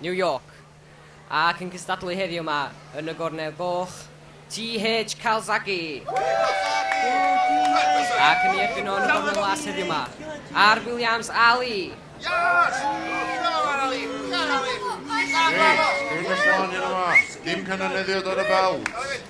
New York, ac yn cystadlu heddiw 'ma yn y gornel goch, TH Calzaghe! Ac yn ei erbyn o yn y gornel las heddiw 'ma, R Williams Ali! Yes! Come on Ali! Come on Ali! Reit, Rhys Wan yno 'ma, dim canoneddiad ar y belt.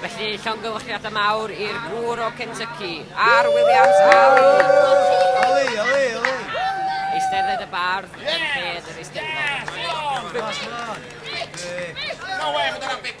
Felly, llongyfarchiadau mawr i'r gŵr o Kentucky, Ar Williams Ali! Ali, Ali, Ali! Eistedded y bardd yn lled yr eisteddfod. Come on, come on. No way, mae dyna bit.